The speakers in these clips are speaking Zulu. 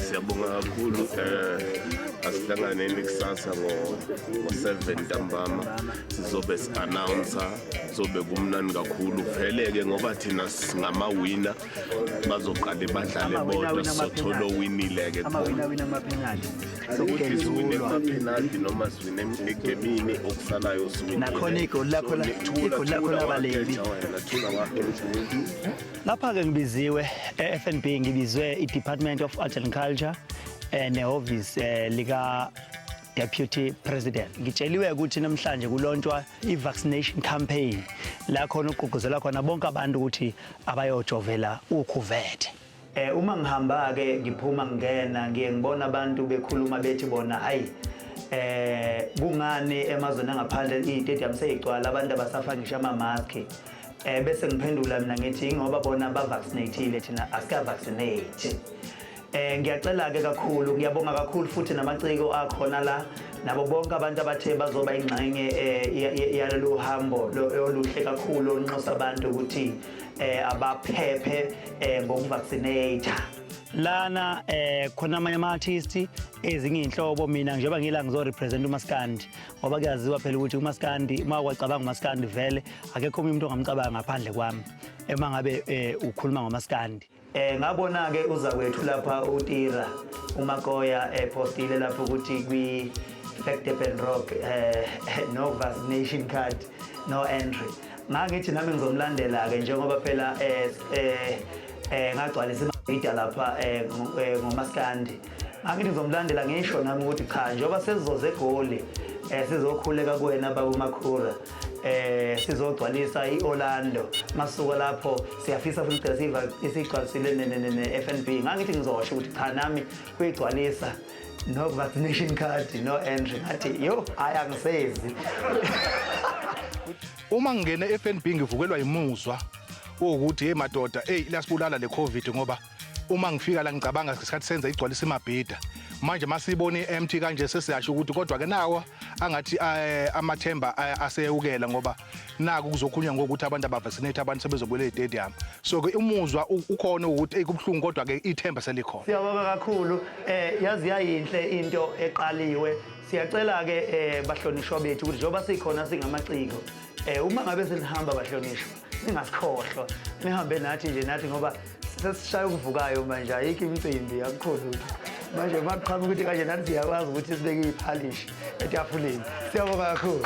siyabonga kakhulu um asihlanganeni kusasa ngo-seven ntambama sizobe si-announsa zobe kumnani kakhulu vele-ke ngoba thina singamawina bazoqale badlale bodwa sothole owinile-ke penalty noma siwine egemini okusalayo nakhona igoli lakho igoli lakho labaleli lapha-ke ngibiziwe e-fnb ngibizwe i-department of art and culture um nehhovisi um lika Deputy President. Ngitsheliwe ukuthi namhlanje kulontshwa i-vaccination campaign la khona ugqugquzela khona bonke abantu ukuthi abayojovela ukhuvethe. Eh uma ngihamba ke ngiphuma ngingena ngiye ngibona abantu bekhuluma bethi bona hayi eh kungani emazweni angaphandle i-stadium seyigcwala abantu abasafa ngisho ama-mask eh bese ngiphendula mina ngithi ingoba bona bavaccinateile thina asika-vaccinate Eh ngiyacela ke kakhulu ngiyabonga kakhulu futhi namaciko akhona la nabo bonke abantu abathe bazoba ingxenye eh, yalolu hambo oluhle kakhulu onxusa abantu ukuthi eh, abaphephe eh, ngokuvaccinate lana eh khona amanye ama artists ezinye inhlobo mina njengoba ngila ngizo represent umaskandi ngoba kuyaziwa phela ukuthi umaskandi uma kwacabanga umaskandi vele akekho umuntu ongamcabanga ngaphandle kwami ema ngabe eh, ukhuluma ngomaskandi Eh ngabona ke uza kwethu lapha uTira uMakoya epostile eh, lapho ukuthi kwi Fact and Rock eh no vaccination card no entry. Ngangithi nami ngizomlandela ke njengoba phela eh eh, eh ngagcwalisa imabhida lapha eh, eh ngomaskandi angithi ngizomlandela ngisho nami ukuthi cha njengoba sesizoze egoli um sizokhuleka kuwena baba umakhura eh sizogcwalisa iOrlando masuka lapho siyafisa futhi cela siva isigcwalisile neFNB ngangithi ngizosho ukuthi cha nami kuyigcwalisa no vaccination card no entry ngathi yo hayi angisezi uma ngingena eFNB ngivukelwa imuzwa ukuthi hey madoda hey lasibulala le covid ngoba uma ngifika la ngicabanga ngesikhathi senza igcwalisa imabhida manje masibona i-empty kanje sesiyasho ukuthi kodwa ke nawo angathi eh, amathemba eh, aseyewukela ngoba naku kuzokhulunywa ngokuthi abantu abavaccinate abantu sebezobuyela e-stadium so ke umuzwa u- ukhona ukuthi eyi kubuhlungu kodwa ke ithemba selikhona Siyabonga kakhulu eh yazi yayinhle into eqaliwe siyacela ke eh bahlonishwa bethu ukuthi njengoba sikhona singamaciko eh uma ngabe senihamba bahlonishwa ningasikhohlwa nihambe nathi nje nathi ngoba sesishaya okuvukayo manje ayikho imicimbi akukho lutho manje uma kuqhamuka ukuthi kanje nathi siyakwazi ukuthi sibeke iphalishi etafuleni siyabonga kakhulu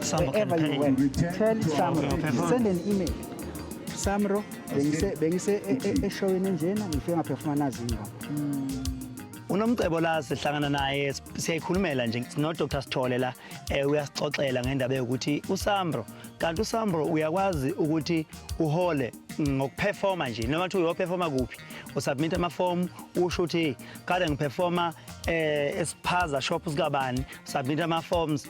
Sambo can pay. Tell Samro, send an email. Samro, bengise bengise e- e- eshowini enjena ngifike ngaphefuma nazi ingoma. unomcebo la sihlangana naye s- siyayikhulumela nje sinodr sithole la um uyasixoxela ngendaba yokuthi usambro kanti usambro uyakwazi ukuthi uhole ngokuphefoma nje noma kuthiwa uyophefoma kuphi usubmit amafomu usho ukuthi kade ngiphefoma um esiphaza shop sikabani submit ama-forms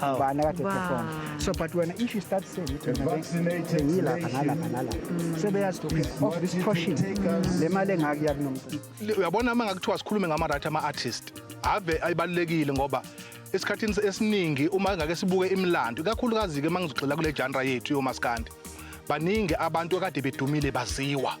How? ubani akade Wow. perform so but wena if you start saying ukuthi wena vaccinated be- bengilapha nalapha nalapha sebeyazi to okay of this portion le mali engaka iyakunomcimbi Le- uyabona uma ngakuthiwa sikhulume ngama-right ama-artist ave ayibalulekile ngoba esikhathini es- esiningi uma ngake sibuke imilando ikakhulukazi-ke uma ngizogxila kule janra yethu yomaskandi baningi abantu akade bedumile baziwa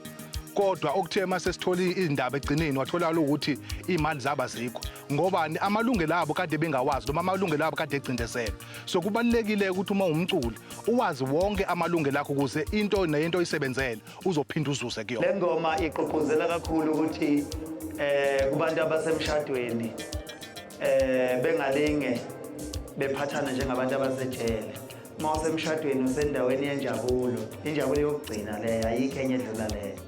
kodwa okuthe uma sesithole izindaba ekugcineni watholakala ukuthi iy'mali zaba zikho ngobani amalungelo abo kade bengawazi noma amalungelo abo kade egcindezelwe so kubalulekile ukuthi uma umculi uwazi wonke amalungelo akho ukuze into neyento oyisebenzele uzophinda uzuze kuyona le ngoma igqugquzela kakhulu ukuthi eh kubantu abasemshadweni eh bengalinge bephathana njengabantu abasejele uma usemshadweni usendaweni yenjabulo injabulo yokugcina leyo ayikho enye edlula leyo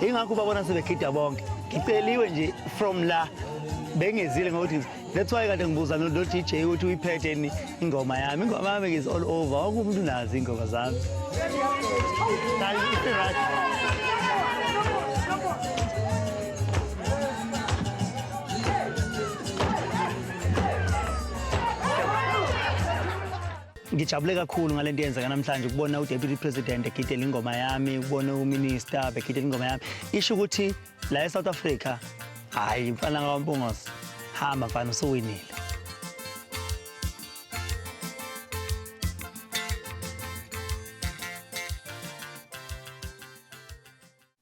ingakho ubabona sebegida bonke ngiceliwe nje from la bengezile ngokuthi that's why kade ngibuza no DJ ukuthi uyiphethe ni ingoma yami ingoma yami is all over wonke umuntu unazi ingoma zami Ngijabule kakhulu ngale nto yenzeka namhlanje ukubona uDeputy President egidela ingoma yami, ukubona uMinister begidela ingoma yami. Isho ukuthi la eSouth Africa hayi mfana kaMpungose hamba mfana usuwinile.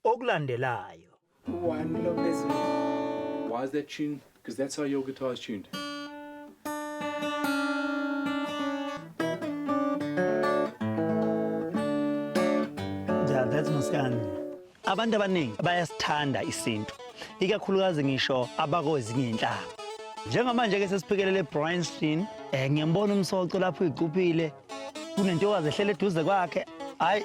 Okulandelayo One lo phezulu. Why is that tuned? Because that's how your guitar is tuned. Yeah, that's Muskani. Abantu abaningi bayasithanda isintu, ikakhulukazi ngisho abakozinye inhlanga. Njengamanje ke sesiphikelele Bryanstein, eh ngiyambona umsoco lapho uyicuphile. Kunentokazi ehlele eduze kwakhe. Hayi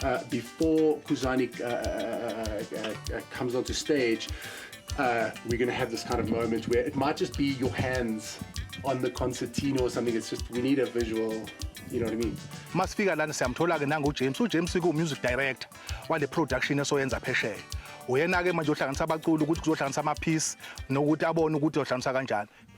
Uh, before Kuzani uh, uh, uh, comes onto stage, uh, we're going to have this kind of moment where it might just be your hands on the concertina or something. It's just we need a visual. You know what I mean? Masifika lana siyamthola ke nangu James. U James ku music director wale production esoyenza phesheya. Uyena ke manje uhlanganisa abaculi ukuthi kuzohlanganisa ama piece nokuthi abone ukuthi uhlanganisa kanjani.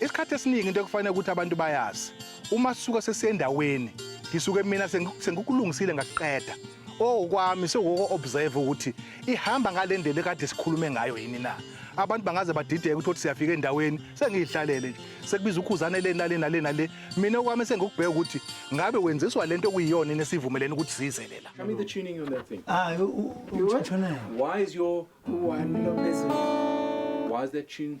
Isikhathi esiningi into ekufanele ukuthi abantu bayazi uma sisuka sesiyendaweni ngisuke mina sengikukulungisile ngakuqeda okwami sekuko observe ukuthi ihamba ngale ndlela ekade sikhulume ngayo yini na abantu bangaze badideke ukuthi siyafika endaweni sengiyihlalele nje sekubiza ukhuzane le nale nale nale mina okwami sengikubheka ukuthi ngabe wenziswa lento okuyiyona yini esivumelene ukuthi size lela Show me the tuning on that thing. Ah, u- u- u- Why is your One Lopez. why is that tune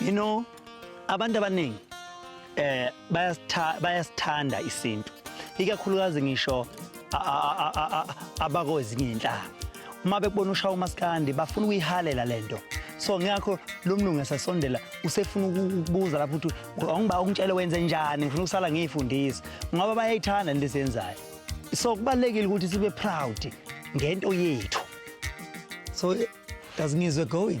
You know, abantu abaningi eh bayasithanda isintu. Ikakhulukazi ngisho abakozinye inhlanga. Uma bekubona ushaya umaskandi bafuna ukuyihalela lento. So ngakho lo mlungu esasondela usefuna ukubuza lapho ukuthi awungiba ungitshele wenze njani ngifuna ukusala ngiyifundisa ngoba bayayithanda lento esiyenzayo. So kubalekile ukuthi sibe proud ngento yethu. So does ngizwe going?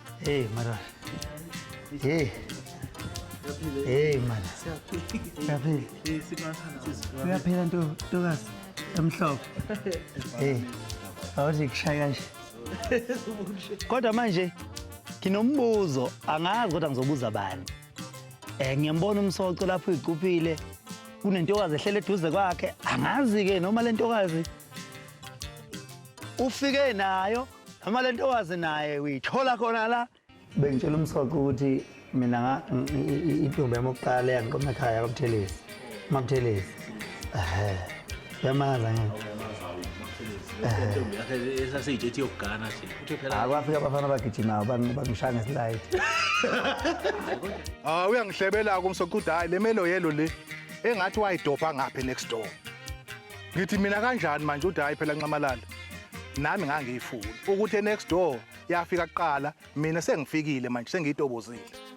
Hey Mara. Hey. Hey Mara. Siyaphila. Siyaphila nto ntokazi emhlophe. Hey. Awuthi kushaya kanje. Kodwa manje nginombuzo angazi kodwa ngizobuza bani. Eh ngiyambona umsoco lapho igcuphile kunentokazi ehlele eduze kwakhe angazi ke noma lentokazi ufike nayo Noma lento wazi naye uyithola khona la. Bengitshela umsoqo ukuthi mina nga intombi yami okuqala yangiqoma ekhaya kwaButhelezi. MaButhelezi. Ehhe. Yamaza ngeke. esaseyitshe ethi yokugana nje uthe phela Hayi kwafika abafana abagijimayo bangi- bangishaya ngeslide. Ah uyangihlebela-ke umsoco ukuthi hhayi le melo yelo le engathi wayidobha ngaphi next door ngithi mina kanjani manje uthi hayi phela nxamalala nami ngangiyifuni ukuthi next door yafika kuqala mina sengifikile manje sengiyitobozile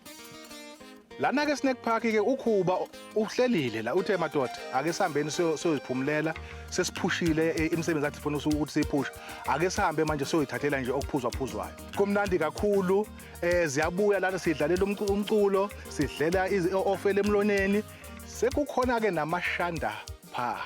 lana ke snack park ke ukhuba uhlelile la uthe madoda ake sihambeni siyoziphumulela sesiphushile e, imisebenzi athi funa ukuthi siyiphushe ake sihambe manje siyoyithathela nje okuphuzwa phuzwayo kumnandi kakhulu eh ziyabuya lana sidlalela umculo sidlela ofele emloneni Sekukhona-ke namashanda pha.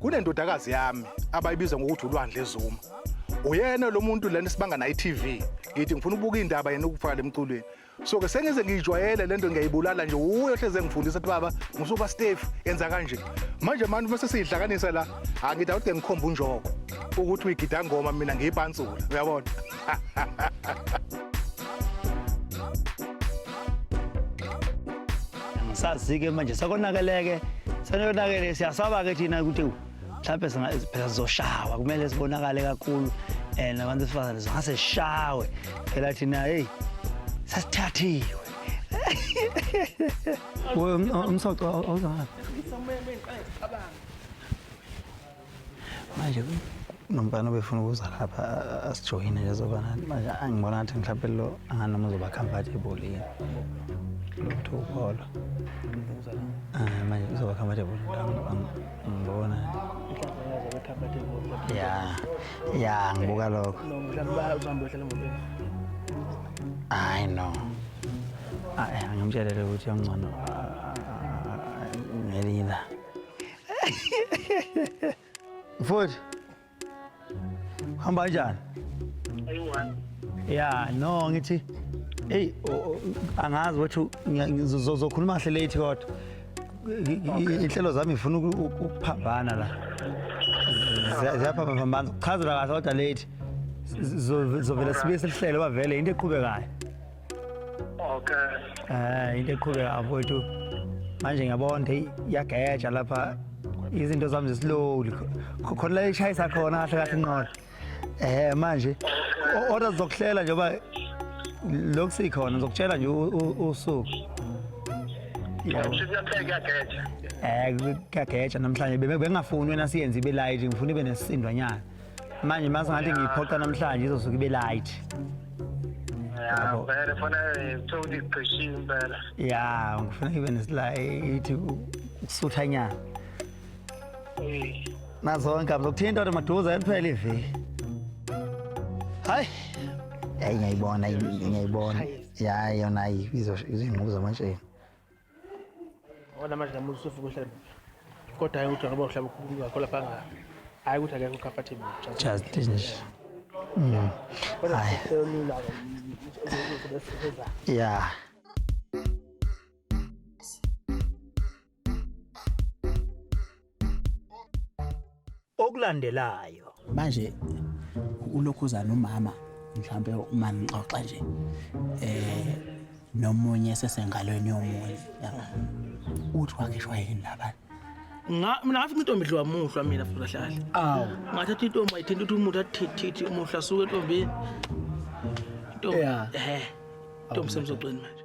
Kunendodakazi yami abayibiza ngokuthi uLwandle Zuma. Uyena lo muntu lana sibanga naye TV. Ngithi ngifuna ukubuka indaba yena ukufaka lemculweni. so ke sengize ngiyijwayele lento ngiyayibulala nje uye ohleze engifundisa ukuthi baba ngisuka Steve yenza kanje manje manje bese sidlakanisa la angida ukuthi ngikhomba unjoko ukuthi uyigida ngoma mina ngiyipansula uyabona sazi-ke manje sekonakeleke senonakele siyasaba-ke thina ukuthi mhlawumbe phela zizoshawa kumele zibonakale kakhulu and abantu besifazane zingase zishawe phela thina heyi sasithathiwe umsoco awuzangabi manje nomfana obefuna ukuza lapha asijoyine nje zoba nathi manje angibona ngathi mhlawumpe lo anganoma uzoba comfortable yini lutho upholo ah, manje uzoba comfortable Ngibona. Ya. Ya ngibuka lokho. Hayi no. Hayi angimtshelele ukuthi ongcono ngelinye la. Mfowethu Hamba kanjani? Ayiwani. Ya, no ngithi hey angazi ukuthi ngizokhuluma kahle late kodwa. Inhlelo zami ngifuna ukuphambana la. Ziyaphambana, kuchazela kahle kodwa late. Zovela sibe selihlelo bavele into eqhubekayo. okay ah into eqhubeka afowethu manje ngiyabona hey iyageja lapha izinto zami zislowly khona la ishayisa khona kahle kahle inqola eh manje order zokuhlela njengoba lokhu sikhona ngizokutshela nje usuku um kuyageja namhlanje bengingafuni wena siyenze ibe light ngifuna ibe nesisindwanyana manje mase ngathi ngiyiphoqa namhlanje izosuke ibe light ya vele fona kuthiwa ukuthi igqishiwe impela ya ngifuna ibe nesila ithi ukusuthanyana Eh, nazonke abzokuthinta kodwa maduze kuphela iviki hayi yayi ngiyayibona ngiyayibona yayi yona ayi izingqubu zamantsheni Ona manje namuhla usufuka uhlale kodwa hayi ukuthi ngoba uhlaba ukhuluma ngakho lapha nga hayi ukuthi akekho comfortable just nje mm hayi yeah okulandelayo manje ulokhuza nomama mhlawumbe uma ngixoxa nje eh nomunye sesengalweni yomunye uthi wakhishwa yini labana ngathi intombi dliwa muhlwa mina futhi kahlale awu ngathatha intombi ayithinta ukuthi umuntu athithithi umuhla suke entombini intombi eh intombi semzogcweni manje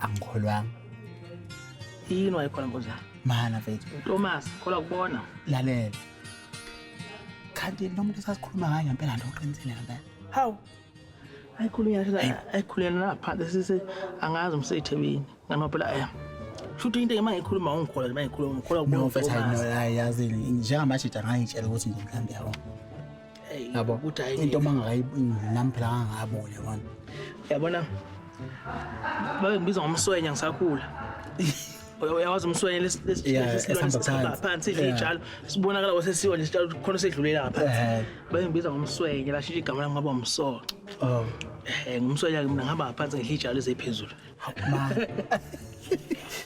angikholwanga yini wayekhona mpunzana mana mfethu utomas khola kubona lalela kanti lo muntu esasikhuluma ngayo ngempela nto uqinisile ngempela hawu ayikhuluyaayikhuluyela naphansi sise angazi umseyithebini ngani maphela aya shuthi into uma ngikhuluma ungikhola nje uma ngikhuluma ngikhola kubona mfethu ayazini njengamajida ngangitshela ukuthi nje mhlawumbe yabo yabo ukuthi hayi into mangakayinami phela ngangabone manje yabona babengibiza ngomswenya ngisakhula uyawazi umswenya lesiphansi idla iy'tshalo sibonakala kwasesiwa nesitshalo khona sedlulela ngaphansi babengibiza ngomswenya lashintsha igama lami ngaba umsoco um ngumswenya-ke mina ngihamba ngaphansi ngidla iy'tshalo eziphezulu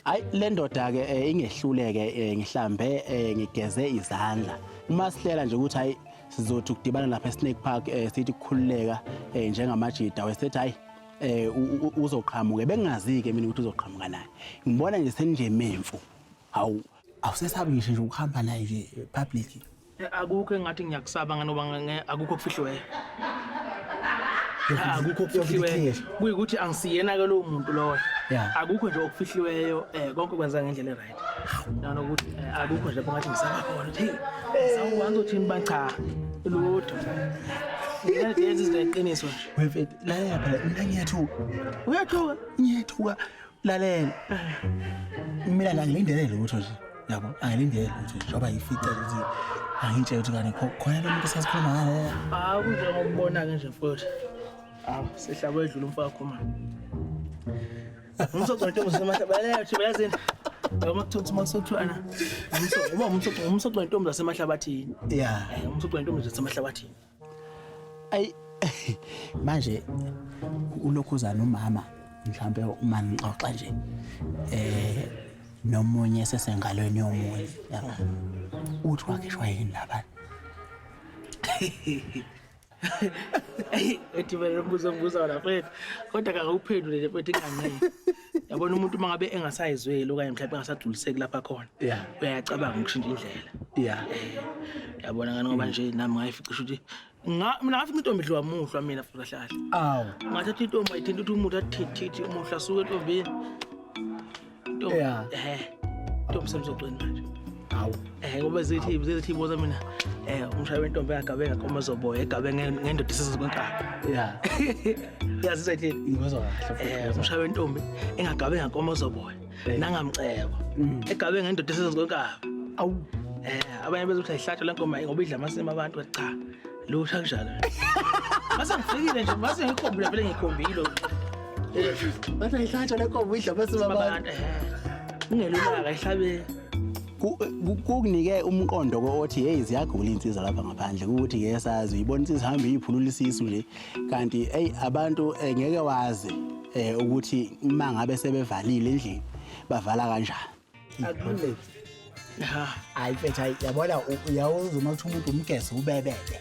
Hayi le ndoda ke eh, ingehluleke eh, ngihlambe eh, ngigeze izandla. Uma sihlela nje ukuthi hayi sizothi ukudibana lapha eSnake Park eh, sithi kukhululeka eh, njengamajida wesethi hayi eh u- u- uzoqhamuke bengazi ke mina ukuthi uzoqhamuka naye. Ngibona nje senje memfu. Hawu awusesabi ngisho nje ukuhamba naye nje eh, public. akukho engathi ngiyakusaba nganoba nge- akukho okufihliweyo Ah, akukho okufihliweyo kuyikuthi angisiyena-ke lowo muntu lowo Yeah. akukho nje okufihliweyo um konke kwenzeka ngendlela e-right nanokuthi eh, akukho nje lapho ngathi ngisaba khona ukuthi heyi sawuwanza uthini ba cha lutho yenza izinto eqiniso nje Wemfethu, lalela phela mina ngiyathuka. Uyathuka? Ngiyathuka. lalela mina la ngilindele lutho nje yabo angilindele lutho nje ngoba yifice ukuthi angitshela ukuthi kani kho- khona lo muntu sasikhuluma ngaye hawu kunjengokubona-ke nje mfowethu hawu sihlaba edlula umfakho ma umsocontomzasemahlanbathi yazini yoma kuthiwa ukuthi makusothwana uba umsocontombi zasemahlabathini ya umsocontombi zasemahlabathini ayi manje ulokhuza nomama mhlawumbe uma ngixoxa nje eh nomunye sesengalweni yomunye yaba uthi wakhishwa yini labana ethi vele umbuzo ombuza wona mfethu kodwa kakawuphendule le mfethu ingangeke yabona umuntu uma ngabe engasayizweli okanye mhlawumbe engasagculiseki lapha khona yeah uyacabanga ukushintsha indlela yeah yabona ngani ngoba nje nami ngayifica ukuthi nga mina ngafica intombi idliwa muhlwa mina futhi kahle kahle awu ngathatha intombi ayithinta ukuthi umuntu athithithi umuhla suke entombini intombi yeah eh intombi semzogcweni manje hawu eh ngoba zithi zithi boza mina eh umshaya wentombi yagabe ngakoma zoboya egabe ngendoda isizwe kwenkabi yeah yazi sethi ngizwa kahle eh umshaya wentombi engagabe ngakoma zoboya eh. nangamcebo mm. egabe ngendoda isizwe kwenkabi awu eh abanye bezothi ayihlatshwa lenkomo ngoba idla amasimo abantu cha lutha kunjalo mase ngifikile nje mase ngikhombile vele ngikhombile eh, bathi ayihlatshwa lenkomo idla amasimo abantu eh, ungelulaka ihlabe kukunike umqondo kothi hey ziyagula insizwa lapha ngaphandle ukuthi ngeke sazi uyibona insizwa hamba iyiphulula isisu nje kanti hey abantu eh, ngeke wazi eh, ukuthi uma ngabe sebevalile endlini bavala kanjani akulungile hayi mfethu yabona uyawuza uma kuthi umuntu umgese ubebebe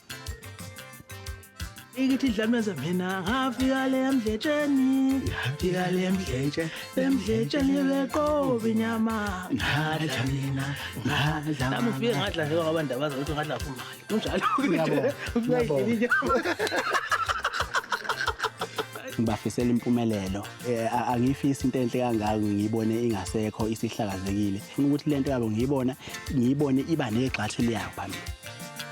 ikithi idlameza mina ngafika le mdletsheni ngafika le mdletshe le mdletsheni beqoba inyama ngadla mina ngadla nami ufike ngadla njengoba abantu abazi ukuthi ngadla fumali kunjalo ngibafisela impumelelo eh, angiyifisi into enhle kangako ngiyibone ingasekho isihlakazekile funa ukuthi lento yabo ngiyibona ngiyibone iba negxathu liyayo phambili